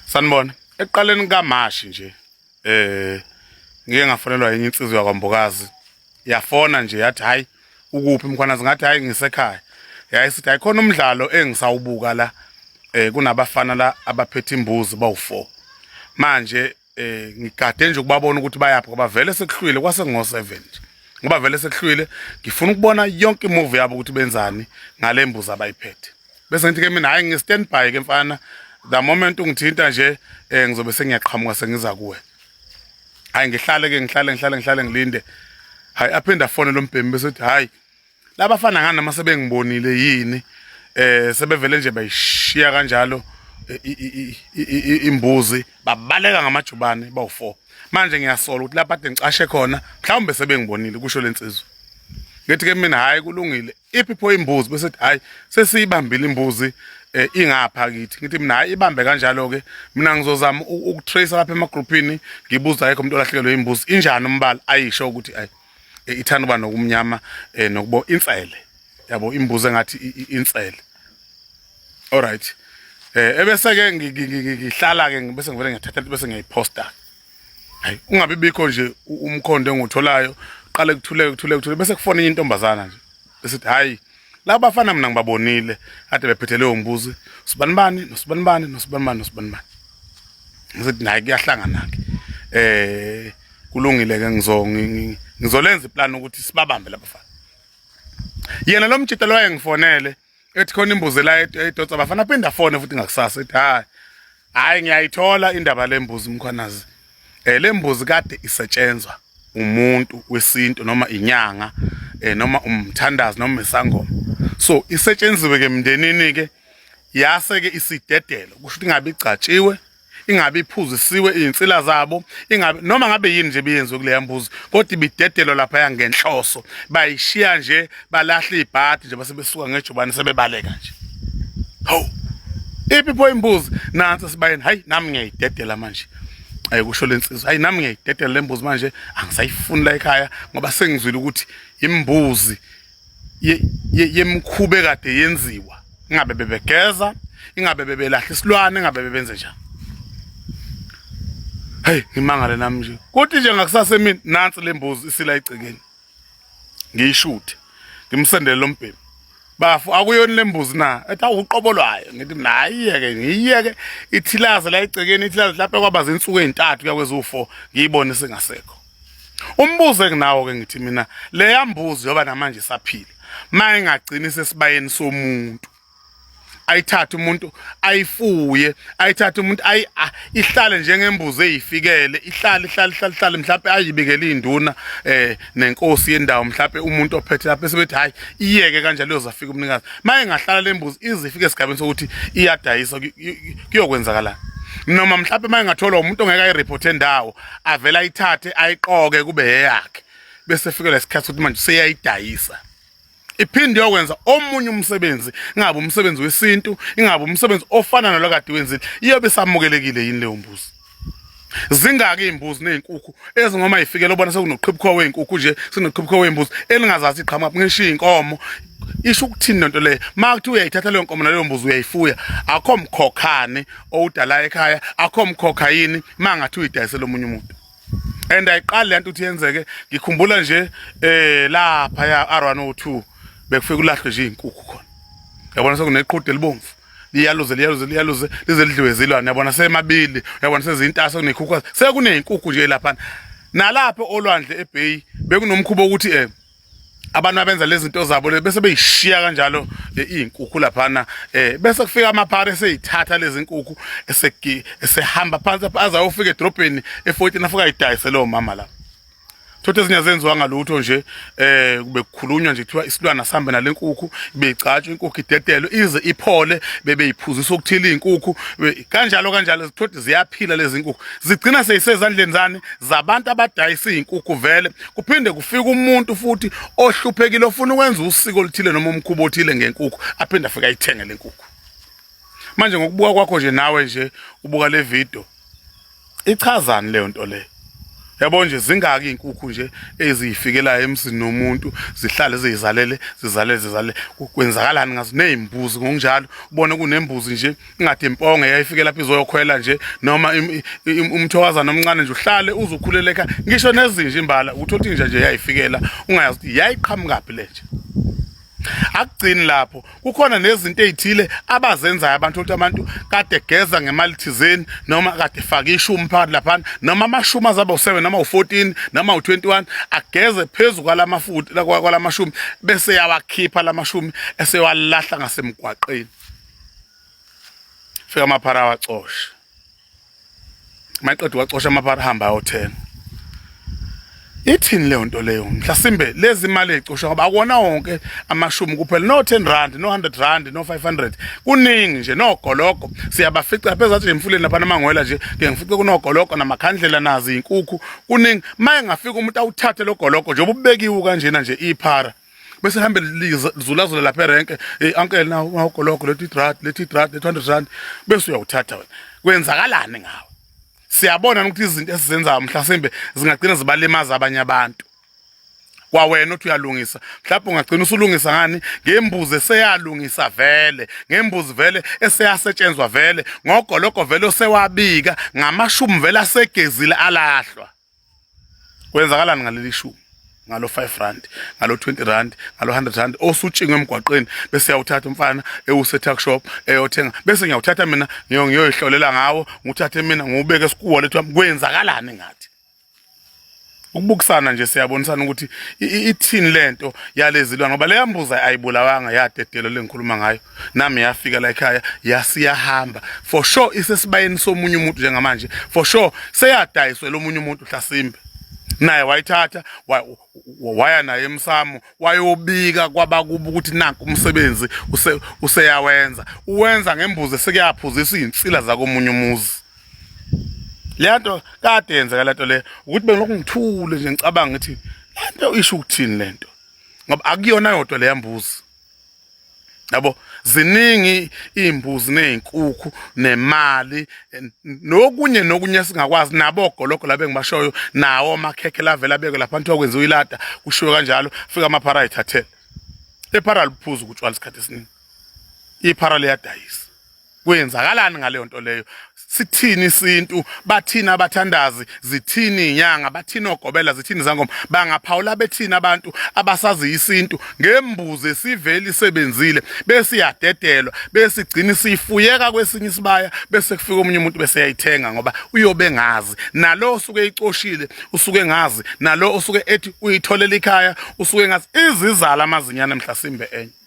sanibona ekuqaleni kamashi nje eh ngike ngafonelwa yenye insizwa yakwambokazi yafona nje yathi hayi ukuphi mkhwana zingathi hayi ngisekhaya yayisithi ayikhona umdlalo engisawubuka la eh kunabafana la abaphethe imbuzi bawu4 manje eh ngigade nje ukubabona ukuthi bayaphi ngoba vele sekuhlwile kwase ngo7 nje ngoba vele sekuhlwile ngifuna ukubona yonke imove yabo ukuthi benzani ngale mbuzi abayiphethe bese ngithi ke mina hayi ngi stand by ke mfana the moment ungithinta nje eh ngizobe sengiyaqhamuka sengiza kuwe hayi ngihlale ke ngihlale ngihlale ngihlale ngilinde hayi aphinde afone lombhemi bese uthi hayi labafana ngani noma sebengibonile yini eh sebevele nje bayishiya kanjalo imbuzi babaleka ngamajubane bawu4 manje ngiyasola ukuthi lapha ade ngicashe khona mhlawumbe sebengibonile kusho lensizwa ngithi ke mina hayi kulungile iphi pho imbuzi bese hayi sesiyibambile imbuzi eh, ingapha kithi ngithi mina hayi ibambe kanjalo ke mina ngizozama ukutrace lapha emagroupini ngibuza ayikho umuntu olahlekelwe imbuzi injani umbala ayisho ukuthi ayi eh, ithanda uba nokumnyama eh, nokubo insele yabo imbuzi engathi insele all right eh ebese-ke ngihlala-ke bese ngivele ngiyathatha bese ngiyayiposta hayi ungabi bikho nje umkhondo engiwutholayo qale kuthuleke kuthuleke kuthuleke bese kufona enye intombazana nje esithi hhayi laba bafana mina ngibabonile ade bephethe leyo mbuzi sibanibani nosibanibani nosibanibani nosibanibani ngithi naye kuyahlangana ke eh kulungile ke ngizo ngizolenza iplan ukuthi sibabambe labafana yena lo mjita lo wayengifonele ethi khona imbuzi la edotsa bafana phinda fone futhi ngakusasa ethi hayi hayi ngiyayithola indaba lembuzi mkhwanazi eh lembuzi kade isetshenzwa umuntu wesintu noma inyanga eh noma umthandazi noma isangoma so isetshenziwe ke mndenini ke yase ke isidedelo kusho ukuthi ingabe igcatshiwe ingabe iphuzisiwe izinsila zabo ingabe noma ngabe yini nje beyenziwe kuleya mbuzi kodwa ibidedelwa lapha yangenhloso bayishiya nje balahle ibhadi nje base besuka ngejubane sebebaleka nje hawu iphi pho imbuzi nansi sibayeni hayi nami ngiyayidedela manje ayikusho lensizwa hayi nami ngiyayidedela lembuzi manje angisayifuni la ekhaya ngoba sengizwile ukuthi imbuzi yemkhube kade yenziwa ingabe bebegeza ingabe bebelahla isilwane ingabe bebenze njani hey ngimangale nami nje kodwa nje ngakusasa emini nansi lembuzi isila igcekeni ngiyishuthe ngimsendele lo mbhemu bafo akuyona le mbuzi na ethi awuqobo lwayo ngithi mina ayiyeke ngiyiyeke ithilaze la igcekeni ithilaze lapho kwaba zinsuku ezintathu kuya kweziwu-four ngiyibone singasekho umbuzo enginawo-ke ngithi mina leya mbuzi yoba namanje isaphila ma ingagcini sesibayeni somuntu ayithathe umuntu ayifuye ayithathe umuntu ayi ah, ihlale njengembuzi eyifikele ihlale ihlale ihlale ihlale mhlawumbe ayibekele induna eh nenkosi yendawo mhlawumbe umuntu ophethe lapho esebethi hayi iyeke kanjalo yozafika umnikazi maye ngahlala lembuzi izifike esigabeni sokuthi iyadayisa kuyokwenzakala noma mhlawumbe maye ngathola umuntu ongeke ayireport endawo avela ayithathe ayiqoke kube yeyakhe bese fikela isikhathi ukuthi manje seyayidayisa iphinde yokwenza omunye umsebenzi ingabe umsebenzi wesintu ingabe umsebenzi ofana nalo kade wenzile iyobe samukelekile yini leyo mbuzi zingaki izimbuzi nezinkukhu ezingoma ifikele ubona sekunoqhibukho wezinkukhu nje sinoqhibukho wezimbuzi elingazazi iqhamuka ngisho inkomo isho ukuthini lento leyo makuthi uyayithatha leyo nkomo naleyo mbuzi uyayifuya akho mkhokhane owudala ekhaya akho mkhokha yini mangathi uyidayisela omunye umuntu and ayiqali lento uthi yenzeke ngikhumbula nje eh lapha ya R102 bekufika ulahlwe nje izinkukhu khona yabona sekuneqhude elibomvu liyaluze liyaluze liyaluze lize lidliwe zilwane yabona semabili yabona sezintasa kunekhukhu sekunezinkukhu nje lapha nalapha olwandle eBay bekunomkhubo ukuthi eh abantu abenza lezi zinto zabo bese beyishiya kanjalo eh, izinkukhu laphana eh bese kufika amaphara eseyithatha lezi nkukhu eseki esehamba phansi aza ofika edrobheni e14 afika idayise lo mama la Thothi ezinye zenziwa ngalutho nje eh kube kukhulunywa nje kuthiwa isilwana sihambe nalenkukhu beyigcatshwa inkukhu idedelwe ize iphole bebeyiphuzisa ukuthila izinkukhu kanjalo kanjalo thothi ziyaphila lezi nkukhu zigcina seyisezandleni zani zabantu abadayisa izinkukhu vele kuphinde kufika umuntu futhi ohluphekile ofuna ukwenza usiko oluthile noma umkhuba othile ngenkukhu aphinde afike ayithenge le nkukhu manje ngokubuka kwakho nje nawe nje ubuka le video ichazani leyo nto leyo yabo nje zingaki izinkukhu nje eziyifikelayo emzini nomuntu zihlale zizalele zizalele zizalele kwenzakalani ngazo nezimbuzi ngokunjalo ubone kunembuzi nje ingathi imponge yayifike lapha izoyokhwela nje noma umthokazana omncane nje uhlale uzukhuleleka ngisho nezinja imbala uthola ukuthi inja nje yayifikela ungayazi ukuthi yayiqhamukaphi le nje akugcini lapho kukhona nezinto ezithile abazenzayo abantu ukuthi abantu kade geza ngemali thizeni noma kade faka ishumi phakathi lapha noma amashumi azaba u7 noma u14 noma u21 ageze phezulu kwalamafuthi kwalamashumi bese yawakhipha lamashumi esewalahla ngasemgwaqeni fika amaphara awacoshe maqedwe wacosha amaphara hamba ayothenga ithini leyo nto leyo mhlasimbe lezi mali ezicoshwa ngoba akona wonke amashumi kuphela no 10 rand no 100 rand no 500 kuningi nje nogologo siyabafica phezulu athi emfuleni lapha namangwela nje ke ngifice kunogologo namakhandlela nazi inkukhu kuningi maye ngafika umuntu awuthathe logologo nje ububekiwe kanjena nje iphara bese hambe lizulazula lapha erenke hey uncle nawo ngawugologo lethi drad lethi drad lethi 100 rand bese uyawuthatha wena kwenzakalani ngawe siyabona ukuthi izinto esizenzayo mhlasimbe zingagcina zibalimaza abanye abantu kwawena uthi uyalungisa mhlawumbe ungagcina usulungisa ngani ngembuzi eseyalungisa vele ngembuzi vele eseyasetshenzwa vele ngogoloko vele osewabika ngamashumi vele asegezile alahlwa kwenzakalani ngaleli shumi ngalo 5 rand ngalo 20 rand ngalo 100 rand osutshingwe emgwaqeni bese yawuthatha umfana ewuse tuck shop eyothenga bese ngiyawuthatha mina ngiyoyihlolela ngawo nguthathe mina ngubeke esikuwa lethu kwenzakalani ngathi ukubukisana nje siyabonisana ukuthi ithini lento yalezilwane ngoba leyambuza ayibulawanga yadedelo lengikhuluma ngayo nami yafika la ekhaya yasiyahamba for sure isesibayeni somunye umuntu njengamanje for sure seyadayiswe lomunye umuntu hlasimbe naye wayithatha waya naye emsamo wayobika kwabakuba ukuthi nanku umsebenzi useyawenza uwenza ngembuzi sekuyaphuzisa izinsila zakomunye umuzi lento kade yenzeka lento le ukuthi bengilokhu ngithule nje ngicabanga ukuthi lento isho ukuthini lento ngoba akuyona yodwa leyambuzi yabo ziningi imbuzi nezinkukhu nemali nokunye nokunye singakwazi nabo ogologo labe ngibashoyo nawo amakhekhe lavela beke lapha kuthiwa kwenziwa ilada kushiwe kanjalo fika amaphara ayithathele ephara liphuza ukutshwala isikhathi esiningi iphara liyadayisa kwenzakalani ngaleyo nto leyo sithini isintu bathini abathandazi zithini inyanga bathini ogobela zithini zangoma bangaphawula bethini abantu abasazi isintu ngembuzi esivele isebenzile bese iyadedelwa bese igcina isifuyeka kwesinye isibaya bese kufika omunye umuntu bese yayithenga ngoba uyobe ngazi nalo osuke icoshile usuke ngazi nalo osuke ethi uyitholela ikhaya usuke ngazi izizala amazinyana mhlasimbe enye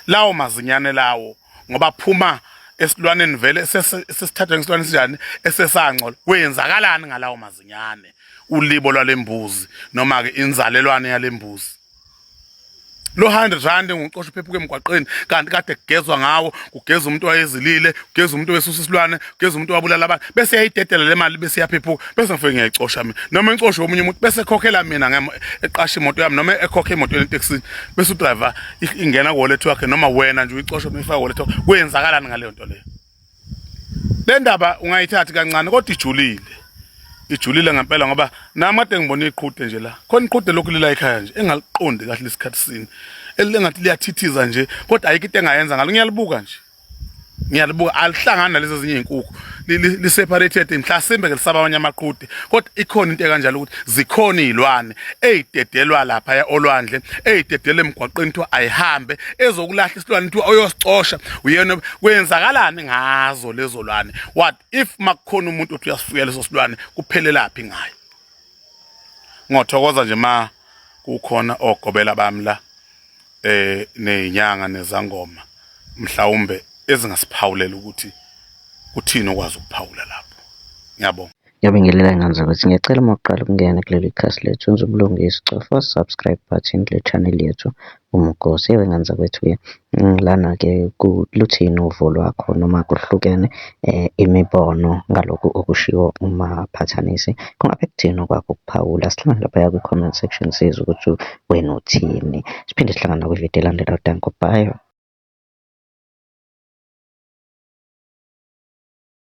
lawo mazinyane lawo ngoba phuma esilwaneni vele sesithathwe ngesilwane sinjani esesangcola kwenzakalani ngalawo mazinyane ulibo lwalembuzi noma ke inzalelwane yalembuzi lo 100 rand nguqosha uphephuka emgwaqeni kanti kade kugezwa ngawo kugeza umuntu wayezilile kugeza umuntu wesusa isilwane kuyeza umuntu wabulala abantu bese yayidedela le mali bese yaphephuka bese ngifike ngiyayicosha mina noma incoshe omunye umuntu bese ekhokhela mina eqasha imoto yami noma ekhokhe imoto yeteksi bese udriver ingena wallet wakhe noma wena nje uyicosha uyifaka wallet wakhe kuyenzakalani ngaleyo nto leyo le ndaba ungayithathi kancane kodwa ijulile ijulile ngempela ngoba nami kade ngibona iqhude nje la khona iqhude lokhu lila ekhaya nje engaliqondi kahle lesikhathi sini elingathi liyathithiza nje kodwa ayikho into engayenza ngalo ngiyalibuka nje ngiyalibuka alihlangani nalezo zinye izinkukhu li-separated mhlasimbe ke lisaba abanye amaqude kodwa ikhona into ekanjalo ukuthi zikhona izilwane ezidedelwa lapha ya olwandle ezidedele emgwaqeni kuthiwa ayihambe ezokulahla isilwane kuthiwa oyosicosha uyena kwenzakalani ngazo lezo lwane what if makukhona umuntu uthi uyasifuya leso silwane kuphelelaphi ngayo ngothokoza nje ma kukhona ogobela bami la eh nezinyanga nezangoma mhlawumbe ezingasiphawulela ukuthi kuthini okwazi ukuphawula lapho ngiyabonga Ngiyabingelela ngani zakwethu. Ngiyacela uma uqala ukungena kuleli khasi lethu wenza ubulungisi cofa subscribe button kule channel yethu uMgosi. Ewe ngani zakwethu-ke mm, lana-ke luthini uvo lwakho noma kuhlukene um imibono ngalokhu okushiwo umaphathanisi. Kungabe kuthini okwakho ukuphawula? Sihlangane laphaya kwi-comment section sizwe ukuthi wena uthini. Siphinde sihlangane nakwividiyo elandelayo. Danko. Bye.